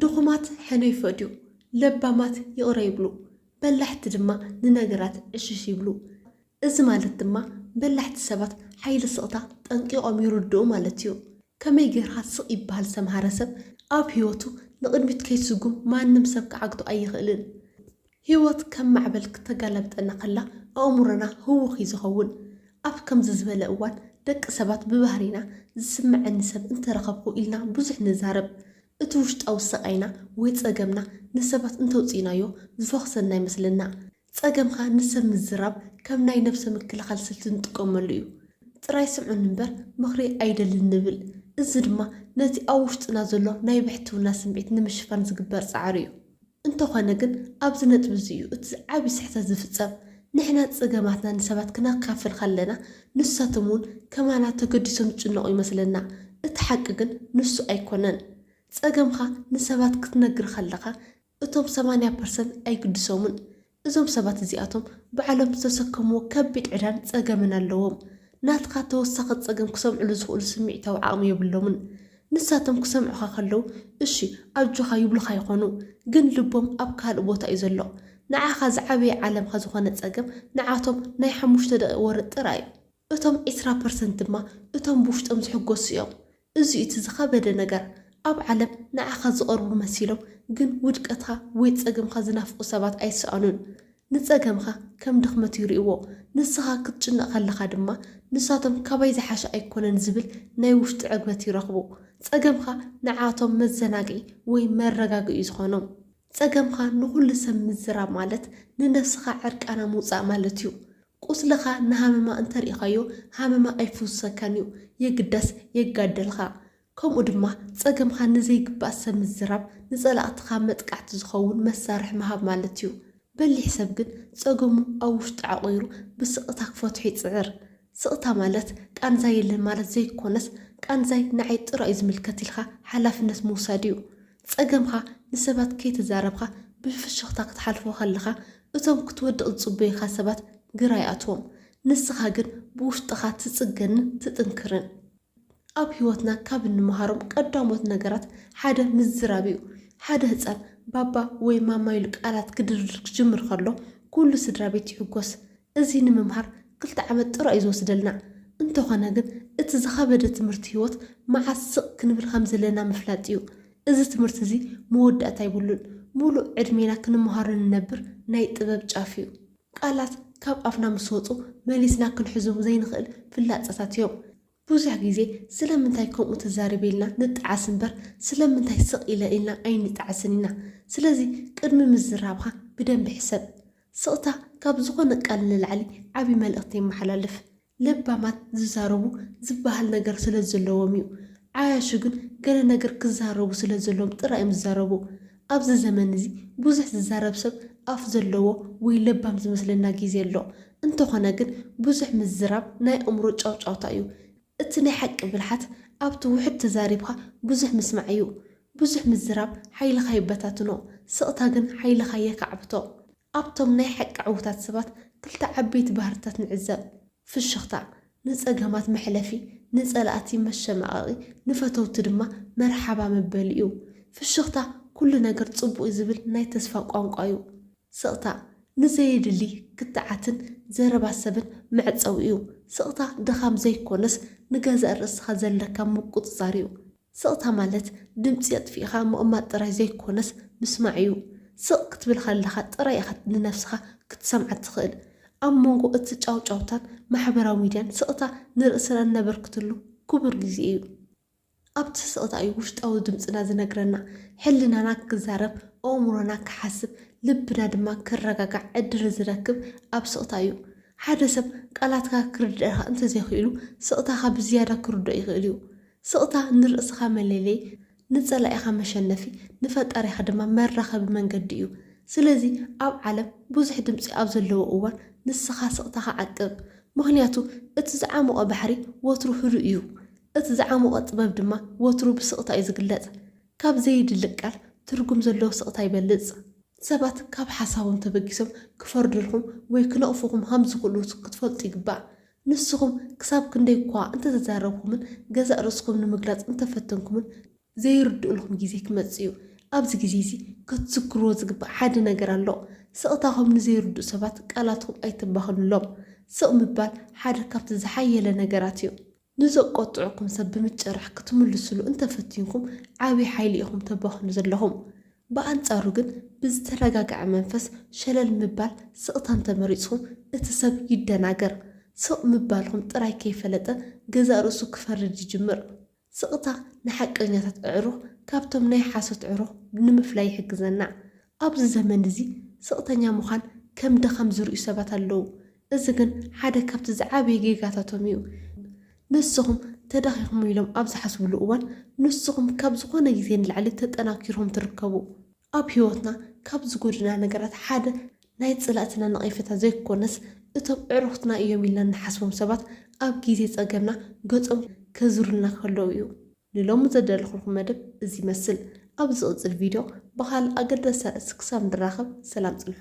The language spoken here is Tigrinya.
ድኹማት ሕነ ይፈድዩ፣ ለባማት ይቕረ ይብሉ፣ በላሕቲ ድማ ንነገራት ዕሽሽ ይብሉ። እዚ ማለት ድማ በላሕቲ ሰባት ሓይሊ ስቕታ ጠንቂቖም ይርድኡ ማለት እዩ። ከመይ ጌርካ ስቕ ይበሃል ዝተምሃረ ሰብ ኣብ ህይወቱ ንቕድሚት ከይስጉም ማንም ሰብ ክዓግቶ ኣይኽእልን። ህይወት ከም ማዕበል ክተጋላብጠና ከላ ኣእምሮና ህዉኽ እዩ ዝኸውን። ኣብ ከምዚ ዝበለ እዋን ደቂ ሰባት ብባህሪና ዝስመዐኒ ሰብ እንተረኸብኩ ኢልና ብዙሕ ንዛረብ። እቲ ውሽጣዊ ስቓይና ወይ ፀገምና ንሰባት እንተውፂእናዮ ዝፈኹሰና ይመስለና። ፀገምኻ ንሰብ ምዝራብ ከም ናይ ነብሰ ምክልኻል ስልቲ ንጥቀመሉ እዩ። ጥራይ ስምዑኒ እምበር ምኽሪ ኣይደልን ንብል። እዚ ድማ ነቲ ኣብ ውሽጥና ዘሎ ናይ ብሕትውና ስምዒት ንምሽፋን ዝግበር ፃዕሪ እዩ። እንተኾነ ግን ኣብዚ ነጥቢ እዚ እዩ እቲ ዓቢ ስሕተት ዝፍጸም። ንሕና ጸገማትና ንሰባት ክነካፍል ከለና ንሳቶም እውን ከማና ተገዲሶም ዝጭነቑ ይመስለና። እቲ ሓቂ ግን ንሱ ኣይኮነን። ጸገምኻ ንሰባት ክትነግር ከለኻ እቶም ሰማንያ ፐርሰንት ኣይግድሶምን። እዞም ሰባት እዚኣቶም ባዕሎም ዝተሰከምዎ ከቢድ ዕዳን ጸገምን ኣለዎም። ናትካ ተወሳኺ ጸገም ክሰምዕሉ ዝኽእሉ ስምዒታዊ ዓቕሚ የብሎምን። ንሳቶም ክሰምዑኻ ከለዉ እሺ ኣጆኻ ይብሉኻ ይኾኑ፣ ግን ልቦም ኣብ ካልእ ቦታ እዩ ዘሎ። ንዓኻ ዝዓበየ ዓለምካ ዝኾነ ጸገም ንዓቶም ናይ ሓሙሽተ ደቒቕ ወረ ጥራይ እዩ። እቶም ዕስራ ፐርሰንት ድማ እቶም ብውሽጦም ዝሕጎሱ እዮም። እዚ'ዩ እቲ ዝኸበደ ነገር። ኣብ ዓለም ንዓኻ ዝቐርቡ መሲሎም ግን ውድቀትካ ወይ ጸገምካ ዝናፍቑ ሰባት ኣይሰኣኑን። ንጸገምካ ከም ድኽመት ይርእይዎ፣ ንስኻ ክትጭነቕ ከለኻ ድማ ንሳቶም ካባይ ዝሓሸ ኣይኮነን ዝብል ናይ ውሽጢ ዕግበት ይረኽቡ። ጸገምካ ንዓኣቶም መዘናግዒ ወይ መረጋግእ'ዩ ዝኾኖም። ጸገምካ ንኹሉ ሰብ ምዝራብ ማለት ንነብስኻ ዕርቃና ምውጻእ ማለት'ዩ። ቁስልኻ ንሃመማ እንተርኢኻዮ ሃመማ ኣይፍውሰካን እዩ የግዳስ የጋደልኻ ከምኡ ድማ ጸገምኻ ንዘይግባእ ሰብ ምዝራብ ንጸላእትኻ መጥቃዕቲ ዝኸውን መሳርሒ ምሃብ ማለት እዩ በሊሕ ሰብ ግን ጸገሙ ኣብ ውሽጡ ዓቑሩ ብስቕታ ክፈትሖ ይጽዕር ስቕታ ማለት ቃንዛ የለን ማለት ዘይኮነስ ቃንዛይ ንዓይ ጥራዩ ዝምልከት ኢልካ ሓላፍነት ምውሳድ እዩ ጸገምካ ንሰባት ከይተዛረብካ ብፍሽኽታ ክትሓልፎ ከለኻ እቶም ክትወድቕ ዝጽበዩኻ ሰባት ግራ ይኣትዎም። ንስኻ ግን ብውሽጥኻ ትጽገንን ትጥንክርን። ኣብ ህይወትና ካብ እንመሃሮም ቀዳሞት ነገራት ሓደ ምዝራብ እዩ። ሓደ ህጻን ባባ ወይ ማማ ኢሉ ቃላት ክድርድር ክጅምር ከሎ ኩሉ ስድራቤት ይሕጎስ። እዚ ንምምሃር ክልተ ዓመት ጥራይ'ዩ ዝወስደልና። እንተኾነ ግን እቲ ዝኸበደ ትምህርቲ ህይወት መዓስ ስቕ ክንብል ከም ዘለና ምፍላጥ'ዩ። እዚ ትምህርቲ'ዚ መወዳእታ ኣይብሉን። ምሉእ ዕድሜና ክንመሃሮ ንነብር ናይ ጥበብ ጫፍ'ዩ። ቃላት ካብ ኣፍና ምስ ወጹ መሊስና ክንሕዞም ዘይንኽእል ፍላጻታት'ዮም። ብዙሕ ግዜ ስለምንታይ ከምኡ ትዛረቢ ኢልና ንጠዓስ እምበር ስለምንታይ ስቕ ኢለ ኢልና ኣይንጠዓስን ኢና። ስለዚ ቅድሚ ምዝራብካ ብደንቢ ሕሰብ። ስቕታ ካብ ዝኾነ ቃል ንላዕሊ ዓቢ መልእኽቲ የመሓላልፍ። ለባማት ዝዛረቡ ዝበሃል ነገር ስለዘለዎም እዩ። ዓያሹ ግን ገለ ነገር ክዛረቡ ስለዘለዎም ጥራይ እዮም ዝዛረቡ። ኣብዚ ዘመን እዚ ብዙሕ ዝዛረብ ሰብ ኣፍ ዘለዎ ወይ ለባም ዝመስለና ግዜ ኣሎ። እንተኾነ ግን ብዙሕ ምዝራብ ናይ ኣእምሮ ጫውጫውታ እዩ። እቲ ናይ ሓቂ ብልሓት ኣብቲ ውሑድ ተዛሪብካ ብዙሕ ምስማዕ እዩ። ብዙሕ ምዝራብ ሓይልኻ ይበታትኖ፣ ስቕታ ግን ሓይልኻ የካዕብቶ። ኣብቶም ናይ ሓቂ ዕውታት ሰባት ክልተ ዓበይቲ ባህርታት ንዕዘብ፣ ፍሽኽታ፣ ንጸገማት መሕለፊ፣ ንጸላእቲ መሸማቐቒ፣ ንፈተውቲ ድማ መርሓባ መበሊ እዩ። ፍሽኽታ ኩሉ ነገር ጽቡቕ'ዩ ዝብል ናይ ተስፋ ቋንቋ እዩ። ስቕታ ንዘየድሊ ክትዓትን ዘረባ ሰብን መዕጸዊ እዩ። ስቕታ ድኻም ዘይኮነስ ንገዛእ ርእስኻ ዘለካ ምቁጽጻር እዩ። ስቕታ ማለት ድምጺ ኣጥፊእኻ ምቕማጥ ጥራይ ዘይኮነስ ምስማዕ እዩ። ስቕ ክትብል ከለኻ ጥራይ ኢኻ ንነብስኻ ክትሰምዓ እትኽእል። ኣብ መንጎ እቲ ጫውጫውታን ማሕበራዊ ሚድያን ስቕታ ንርእስና እነበርክትሉ ክቡር ግዜ እዩ። ኣብቲ ስቕታ እዩ ውሽጣዊ ድምጽና ዝነግረና፣ ሕልናና ክዛረብ፣ ኣእምሮና ክሓስብ፣ ልብና ድማ ክረጋጋዕ ዕድል ዝረክብ ኣብ ስቕታ እዩ። ሓደ ሰብ ቃላትካ ክርድኣካ እንተዘይክኢሉ ስቕታኻ ብዝያዳ ክርድኦ ይኽእል እዩ። ስቕታ ንርእስኻ መለለዪ፣ ንጸላኢኻ መሸነፊ፣ ንፈጣሪኻ ድማ መራኸቢ መንገዲ እዩ። ስለዚ ኣብ ዓለም ብዙሕ ድምጺ ኣብ ዘለዎ እዋን ንስኻ ስቕታኻ ዓቅብ። ምኽንያቱ እቲ ዝዓሞቐ ባሕሪ ወትሩ ህዱእ እዩ። እቲ ዝዓሞቐ ጥበብ ድማ ወትሩ ብስቕታ እዩ ዝግለጽ። ካብ ዘየድሊ ቃል ትርጉም ዘለዎ ስቕታ ይበልጽ። ሰባት ካብ ሓሳቦም ተበጊሶም ክፈርዱልኩም ወይ ክነቕፉኹም ሃም ዝኽእሉ ክትፈልጡ ይግባእ። ንስኹም ክሳብ ክንደይ'ኳ እንተተዛረብኩምን ገዛእ ርእስኹም ንምግላጽ እንተፈተንኩምን፣ ዘይርድኡልኩም ግዜ ክመጽእ እዩ። ኣብዚ ግዜ'ዚ ክትዝክርዎ ዝግባእ ሓደ ነገር ኣሎ። ስቕታኹም ንዘይርድኡ ሰባት ቃላትኩም ኣይተባኽኑሎም። ስቕ ምባል ሓደ ካብቲ ዝሓየለ ነገራት እዩ። ንዘቆጥዑኩም ሰብ ብምጭራሕ ክትምልሱሉ እንተፈቲንኩም ዓብይ ሓይሊ ኢኹም ተባኽኑ ዘለኹም። ብኣንፃሩ ግን ብዝተረጋገዐ መንፈስ ሸለል ምባል ስቕታ እንተመሪፅኹ እቲ ሰብ ይደናገር። ስቕ ምባልኹም ጥራይ ከይፈለጠ ገዛእ ርእሱ ክፈርድ ይጅምር። ስቕታ ንሓቀኛታት ኣዕሩኽ ካብቶም ናይ ሓሶት ዕሩኽ ንምፍላይ ይሕግዘና። ኣብዚ ዘመን እዚ ስቕተኛ ምዃን ከም ድኻም ዝርእዩ ሰባት ኣለዉ። እዚ ግን ሓደ ካብቲ ዝዓበየ ጌጋታቶም እዩ። ንስኹም ተዳኺኹም ኢሎም ኣብ ዝሓስብሉ እዋን ንስኹም ካብ ዝኾነ ግዜ ንላዕሊ ተጠናኪርኩም ትርከቡ። ኣብ ህይወትና ካብ ዝጎድኡና ነገራት ሓደ ናይ ጸላእትና ነቐፌታ ዘይኮነስ እቶም ኣዕሩኽትና እዮም ኢልና እንሓስቦም ሰባት ኣብ ግዜ ጸገምና ገጾም ከዙሩልና ከለው እዩ። ንሎሚ ዘዳለኹልኩም መደብ እዚ ይመስል። ኣብ ዝቕጽል ቪድዮ ብኻልእ ኣገዳሲ ኣርእስቲ ክሳብ ንራኸብ ሰላም ጽንሑ።